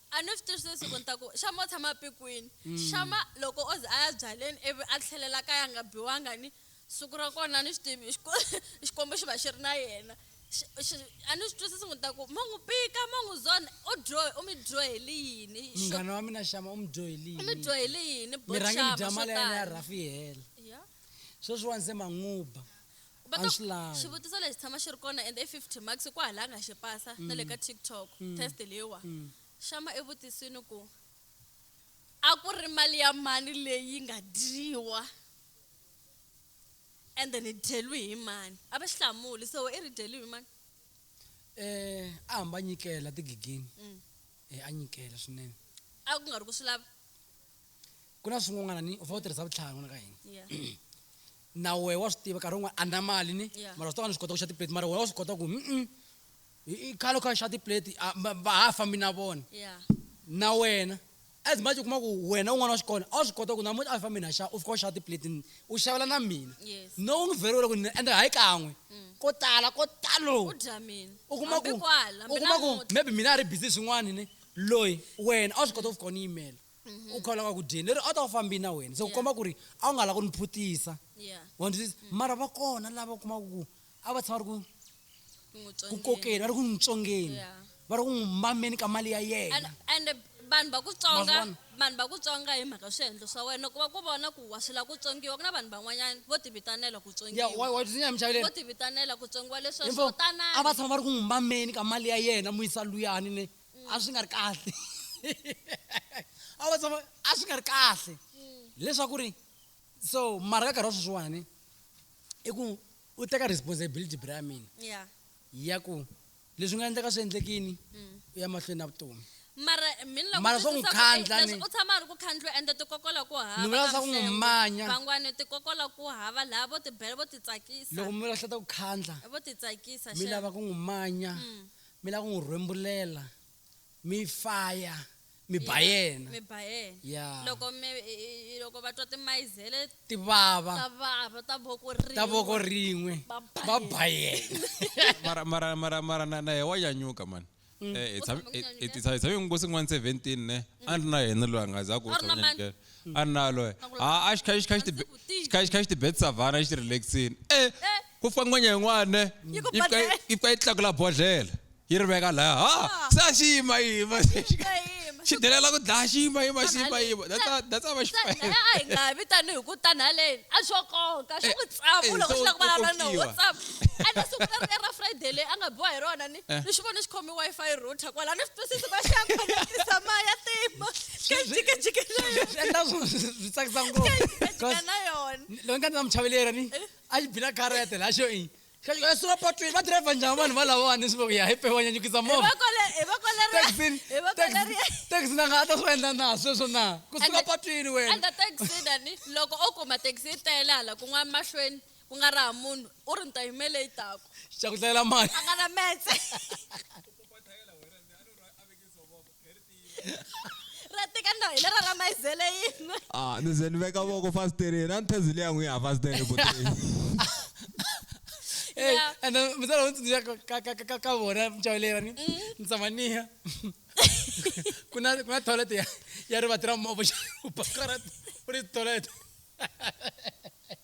a ni swi tivi sweswi ku ni ta ku xama u tshama pikwini mm. xama loko o ze a ya byaleni ivi a tlhelela kaya nga biwanga ni siku ra kona ni swi tivi xikwembu xi va xi ri na yena a ni swi twisisi n'wi ta ku ma n'wi pika ma n'wi zona u dyo u mi dyoheli yini munghana wa mina xama u mi dyoheli yini u mi dyoheli yini boxama swo tala ya rafi hela sweswiwani se manguba But a swi lavi. xivutiso lexi tshama xi ri kona and i 50 marks ku hala a nga xi pasa na le ka tiktok test leyiwa xama evutisini ku a ku ri mali ya mani leyi nga dyiwa and then hi dyeliwi hi mani a va xi hlamuli so i ri dyeliwi hi mani Eh, a hamba a nyikela tigigini. Eh, a nyikela swinene. a ku nga ri ku swi lava ku na swin'wana ni u fanele u tirhisa vutlhari n'wana ka hina yeah na wehe wa swi tiva nkarhi wun'wana a na mali ni Yeah. mara swi tava ni swi kota ku xa tiplate mara wena wa swi kota ku mm i- i khale u kha u xa tiplate a- va va ha fambi na vona yeah na wena as much u kuma ku wena un'wana wa xikolo a wu swi kota ku namuntlha a hi fambi na xa u fika u xava tiplate ni u xavela na mina Yes. Mm. no u n'wi vheriwile ku ni ende hayi kan'we ko tala ko talo u dya mina u kuma ku Hambi kwala, u hambi kuma ku namuntlha. maybe mina a ri busy swin'wana ni loyi wena a wu swi kota ku fika u ni yimela u kha u lava ku dyeni lero a ta wu fambi na wena se ku Yeah. komba ku ri a wu nga lava ku ni phutisa yeah wa ndzi twisisa mara va kona lava u kumaka ku a va tshama va ri ku ku n'wi ku tsongeni. kokeni va ri ku n'wi tsongeni Yeah. va ri ku n'wi mameni ka mali ya and yena and vanhu va ku tsonga Maswana. vanhu va ku tsonga hi mhaka swiendlo swa wena ku va ku vona ku wa swi lava ku tsongiwa ku na vanhu van'wanyana vo ti vitanela ku ya tsongiwa wa wa tsundzuka mi chaveleni vo ti vitanela ku tsongiwa leswi Info, swo a va tanani tshama va ri ku n'wi mameni ka mali ya yena mu yisa luyani ne mm. a swi nga ri kahle a va tshama a swi nga ri kahle mm. leswaku ri so mara ka nkarhi wa sweswiwani i ku u teka responsibility bra mina ya ku leswi nga endleka swi endlekini mm. u ya mahlweni na vutomi mara mina mara swa ku khandla ni u tshama ri ku khandlwa ende ti kokola ku hava ni vula swa ku manya bangwani ti kokola ku hava laha vo ti bela vo ti tsakisa loko mi lahleta ku khandla vo ti tsakisa mi lava ku n'wi manya mm. mi lava ku n'wi rhwembulela mi faya mi ba yena mi ba yena ya loko mi loko va twa timayizele ti vava ta vava ta voko rin'we ta voko rin'we va ba yena mara mara mara mara na na wa nyanyuka mani mm. eh, hi tshame ngo sin'wana 17 ne mm. a ri na yena loyi a nga za ku a ri na loyi a xi kha xi kha xi tibet savana xi relaxini e eh, eh. ku fika ngwenya yin'wana yi fika yi fika yi tlakula bodlhela yi ri veka laya ha ah. se a xi yima yima xi delela ku dlaya xi yima yima xi yima yima that's how va xi a hi nga vi tanihi ku tani haleni a swo konka swi ku tsavu eh, loko xi lava ku vulavula na whatsapp ene siku leri era friday leyi a nga biwa hi rona ni eh. ni xi vone xi khome wi-fi router kwala ni swi twisisi ku va xi ya khoneketisa maya tima kajikajike na yona swi tsakisa ngopfu na yona loyi nga ni na muchaveleri ni eh. a yi bina karete la xo ii xaxo sura patwini va driver njhani vanhu va lavawani swi voku ya hi pewa nyanyukisa movaexi na nga a ta swi va endla na sweswo na ku suka patwini wenaexidani loko o kuma taxi yi tele hala kun'wana mahlweni ku nga raha munhu u ri ni ta yimele yi tako xa ku dlayela mali a nga na metse ratika ndo hi lera ra mayizele yinwe ah ni ze ni veka voko fasitereni a ni thezi leya n'wi ya fasitereni kuteni and mzala u tsundzuxa ka vona mintlawa leyi va ni ni tshama niya ku na ku na toilet ya ya rivati ra movha xa u bakara u ri toilet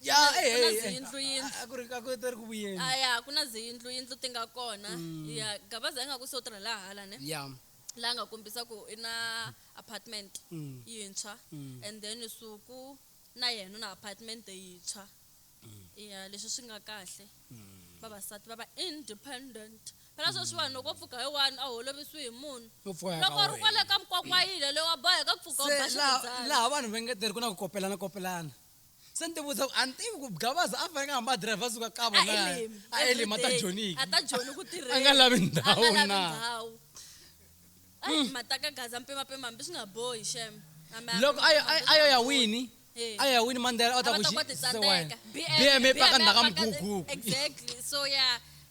ya Ku na- eh, ku na eh, eh, ziyindlu, yindlu. a- a ku ri a ku ri ku vuyeni a ya ku na ziyindlu yindlu ti nga kona Mm. ya gabaza yi nga ku se u tirha laha hala ne ya la nga kombisa ku i na apartment Mm. yintshwa Mm. and then suku na yena u na apartment yintshwa Mm. ya leswi swi nga kahle vavasati va va independent phela Mm. sweswiwani loko u pfuka hi wani a holovisiwi hi munhu u pfuka loko u ri kwale ka mkwakwayile loyi wa boheka ku pfuka u ba se laha ximuzana laha vanhu va nga tirhi ku na ku kopelana kopelana se ni ti vutisa ku a ni tivi ku gavaza a faneke a hamba a driver suka kavo na a elim a ta joniki a ta joni ku tirheni a nga lavi ndhawu na ndhawu ayi hmm. mataka gaza mpimapima hambi swi nga bohi shem loko ayo ya wini ayo ya wini mandela a ta ku xi bm e paka ndhaka mguguku exactly so ya yeah.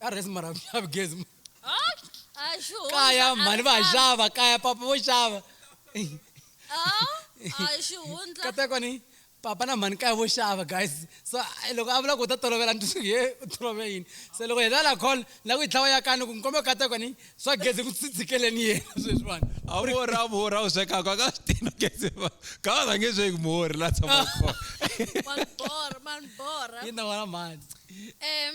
ka resi mara xavi gezi kaya mhani va xava kaya papa vo xava katekwa ni papa na mhani kaya vo xava guys so loko a vula ku u ta tolovela ni ye u tolove yini se loko heta la call la ku yi tlhawa ya kani ku ni kombeka katekwa ni swa gezi ku tsitsikeleni yena sweswiwani a vora a vora u swekaka ka swi tina gezi ka va rhange sweki muhori la tshama kona yi na wona mhani um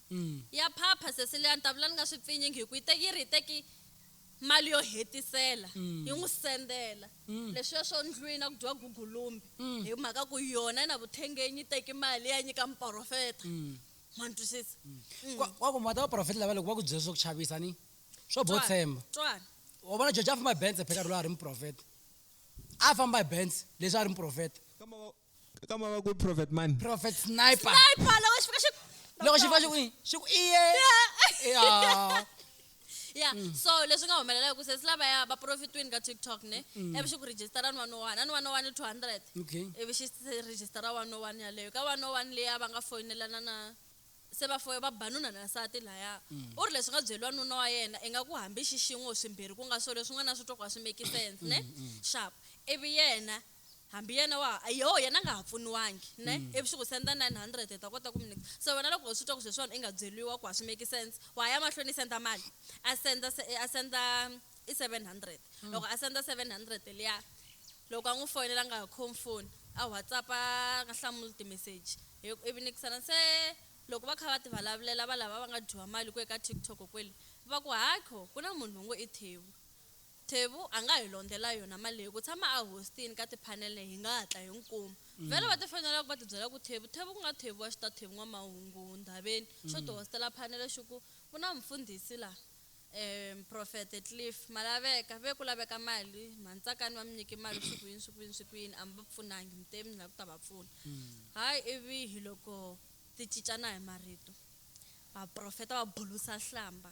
ya phapha sesi leya ni ta vula ni nga swi pfinyingi hi ku yi te yi ri hi teki mali yo hetisela yi n'wi sendela leswiya swo ndlwini a ku dyiwa gugulumbi hi mhaka ku yona yi na vuthengenyi yi teki mali yi ya nyika muporofeta ma ni twisisa Kwa- kwaku ma ta vaprofeta lava loko va ku byela swa ku chavisa ni swo bo tshemba twana u vona jojo a famba hi bense pheka rolo a ri muprofeta a famba hi bense leswi a ri muprofeta Kamba wa- ka mava ku prophet mani prophet sniper sniper loko xi fika xi loko xi fika xi ku xi ku iye yeah ya mm. so leswi nga humelela hi ku sesi lavaya va profitwini ka tiktok ne mm. ivi xi ku rejistara ni one one a ni one one two hundred ivi xi rejistara one one yaleyo ka one one leya va nga foyinelana na se va foye va ba nuna na nsati laya mm. u ri leswi nga byeriwa nuna wa yena i nga ku hambi xixin'we swimbirhi ku nga swo leswin'wana na swi twa ku a swi make sense ne xap ivi yena hambi yena wa ha yoho yena a nga ha pfuniwangi ne mm. ivi swi ku senda 900 hi ta kota ku mi nyika se wena loko u swi twa ku sweswiwani i nga byeriwa ku a swi make sense wa ya mahlweni i senda mali a senda a senda i 700 mm. loko a senda 700 liya loko a n'wi foyinela a nga ha khomi foni a whatsapp a nga hlamuli timeseji ivi nikisana se loko va kha va ti vulavulela va lava va nga dyiwa mali ku eka tiktok kwele va ku hakho ku na munhu loyi ngo i thewu Thevu a nga hi londhela yona mali leyi. Ku tshama a hostini ka tiphanele hi nga hatla hi n'wi kuma. Vhele va tifonelaka va tibyela ku Thevu, Thevu ku nga Thevu wa Xitathevu N'wamahungu Ndhaveni xo ti hostela phanele xi ku, Ku na mufundhisi la, eeh, Profete Cliff, ma laveka. Ve ku laveka mali, mhani Tsakani va mi nyike mali swi ku yini, swi ku yini, swi ku yini, a mi va pfunangi, mi te mi la ku ta va pfuna. Hay ivi hiloko ti cincana hi marito, vaprofeta va bulusa hlamba.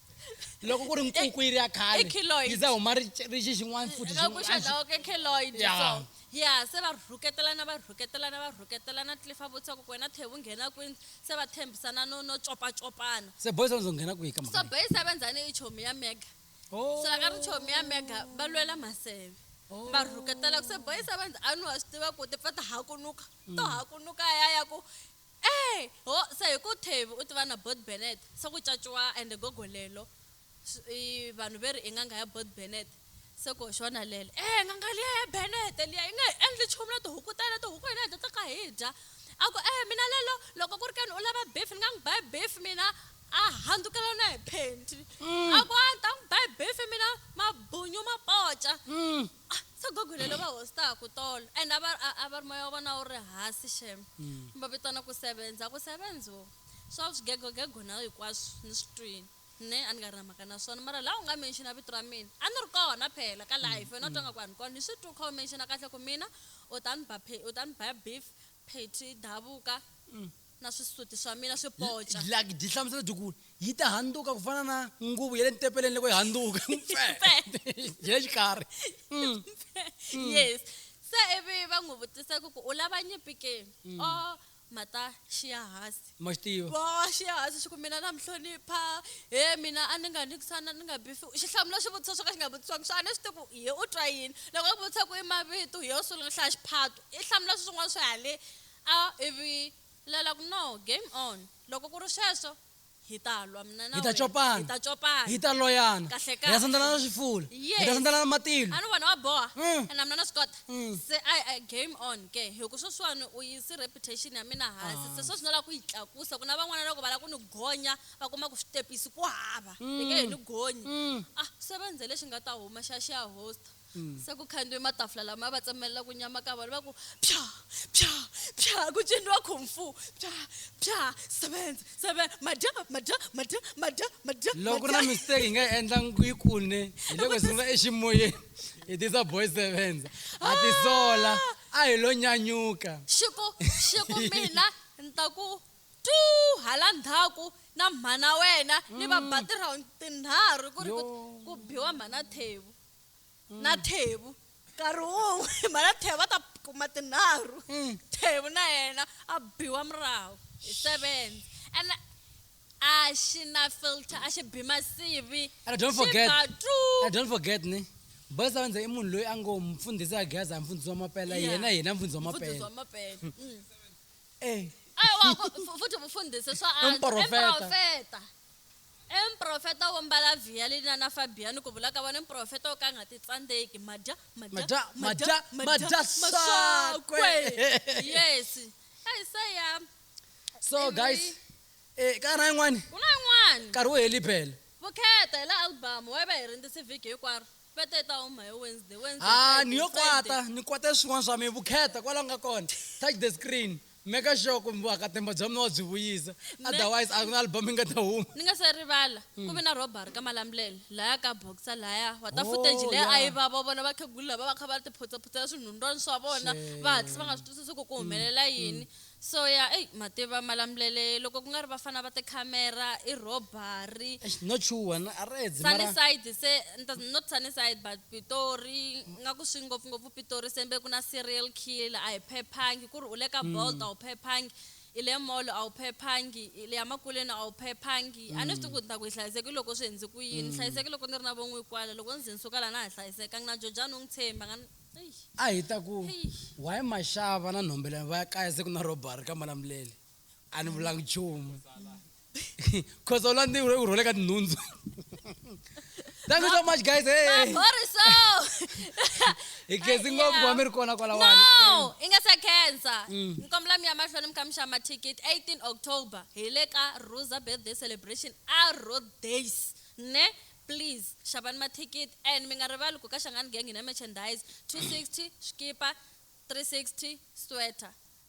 loko ku ri nkuku yi ri ya khale yi za huma rixi xin'wana futi ya se va rhuketelana va rhuketelana va rhuketelana tlifa vutisa ku wena thevu nghena kwini se va tshembisana no no copacopana se boys vanzo nghena kwihi ka so boys a va ndzhani i chomi ya mega oh. so a ka ri chomi ya mega va lwela maseve oh. va rhuketela ku se boys a va ndzi a ni wa swi tiva ku tipfa ta hakunuka to mm. hakunuka ya ya ku Eeh ho se hi ku Thavi u tiva na Bot Bennet se ku caciwa ende gogo lelo i vanhu veri i n'anga ya Bot Bennet se ku xona lelo eeh n'anga liya ya Bennet liya yi nge hi endli chumu na tihuku tale tihuku hina hi ta tsaka hi dya a ku eeh mina lelo loko ku ri keni u lava beef ni nga n'wi ba beef mina a handzukela na hi phenti a ku a ni ta n'wi ba beef mina mabunyu ma poca. se gogo lelo va hosi ta ha ku tolo and a va a- a va ri moya wa vona wu ri hasi xem va vitana ku sevenza ku sevenzo swa swigegogego na hinkwaswo ni swi twini ne a ni nga ri na mhaka na swona mara laha u nga menxina vito ra mina a ni ri kona phela ka life wena u twa nga ku a ni kona ni swi twi u kha u menxina kahle ku mina u ta ni ba phe- u ta ni ba beef pheti davuka na swisuti swa mina swi poca like byi hlamusela byi ku yi ta handuka ku fana na nguvu ya le ntepeleni loko yi handuka ya xikarhi mm. Mm. yes se ivi va n'wi vutisa ku ku u lava nyimpi ke mm. o oh, mata xiya hansi ma xi tiva bo xiya hansi xi ku mina na mi hlonipha he mina a ni nga ni kusana ni nga bifi xi hlamula swivutiso swo ka xi nga vutisiwanga swa a ni swi tivi ku hi u twa yini loko a ku vutisa ku i mavito hi yo sungula hlaya xiphato i hlamula swin'wana swi hale A, Ivi la la ku, No, game on. Loko ku ri sweswo, hi ta lwa mina na Hi ta wena. copana. Hi ta copana. Hi ta loyana. Kahle, kahle. Hi ta sandzelana swifula. Yes. Hi ta sandzelana matilo. A ni vona wa boha. Mm. Ene na mina na swi kota. Mm. Se a, a game on ke, hi ku sweswiwani u yisi reputation ya mina hansi. Hansi. Se sweswi no la ku yi tlakusa, ku na van'wana loko va la ku ni gonya, va kuma ku switepisi ku hava. Mm. Hi nge hi ni gonyi. Mm. A, se va nze lexi nga ta huma xa xi ya host. mm. se ku khandiwe matafula lama va tsemelela ku nyama ka vona va ku pya pya pya ku ciniwa khumfu pya pya sevenza seven madya madya madya madya madya loko ri na mistake hi nga endla yi kune hi loko hi sungula eximoyeni hi tisa boy sevenza a tisola a hi lo nyanyuka xiku xiku mina ni ta ku tu hala ndhaku na mhana wena ni va mm. batirhawundi tinharhu ku ri ku biwa mhana thevu na mm. thevu nkarhi wun'we hi mhana thevu va ta kuma tinharhu mm. thevu na yena a biwa murahu hi seven and a xi na filter a xi bi masivi and don't forget and don't forget ni boys a va ndze i munhu loyi a ngo mfundhisi a gaza a mfundhisi wa mapela yena yena mfundhisi wa mapela mm. eh. futhi mfundhisi swa antswa emprofeta E muprofeta wo mbala vhiya li na na fabhiya ni ku vula ka vona, Muprofeta wo ka a nga titsandzeki, ma dya, ma Ma dya, dya, ma dya, ma dya swakwe. Yes. Eyi se ya. So Emily. guys, eh, ka ha ri na yin'wani? Ku na yin'wani. Nkarhi wu heli bele. Vukheta hi la album, why va hi rindzisi vhiki hinkwaro? Va te yi ta huma hi Wednesday, Wednesday, Ha, Friday, ni yo Friday. kwata, ni kwate swin'wana swa mina. Vukheta, kwala u nga kona. Touch the screen. Maker sure ku vuhakatemba bya mina wa byi vuyisa, Me- otherwise a ku na album yi nga ta huma. Ni nga se rivala, ku ve na robbery ka Malamulele, lahaya ka Boxer lahaya. Wa ta Oh, footage leyi a yi yeah. va, va vona vakhegula lava va kha va tiphutsa-phutsela swinhundwani swa vona, va hatlisa va nga swi twisisi ku ku humelela yini. So ya, ey, ma tiva Malamulele loko ku nga ri vafana va tikhamera, i robbery, Eish, no chuha na a ri edzi mara Sunnyside se, ni ta- not Sunnyside but Pitori, nga ku swi ngopfu-ngopfu Pitori sembe ku na serial killer a hi phephangi ku ri u le ka bolt a wu phephangi i le mall a wu phephangi i le emakuleni a wu phephangi a ni swi tivi ku ni ta ku hi hlayiseki loko swi hundzi ku yini ni hlayiseki loko ni ri na vo n'wi kwala loko ni ze ni suka la na ha hlayisekangi na jojani u n'wi tshembi a nga ni eish a hi ta ku eish why maxava na nhombelani va ya kaya se ku na robbery ka malamulele a ni vulanga nchumu khosa u la ni u rhole ka tinhundzu thank you so much guys hey. Maboriso. hi khensi ngopfu wa mi ri kona kwalawani No, i nga se khensa. Mm. Ni kombela mi ya mahlweni mi kha mi xava mathikithi 18 October hi le ka Rosa birthday celebration a Road Days. Ne? Please xavani mathikithi and mi nga rivali ku ka Xangani Gang hi na merchandise 260 xikipa 360 sweater.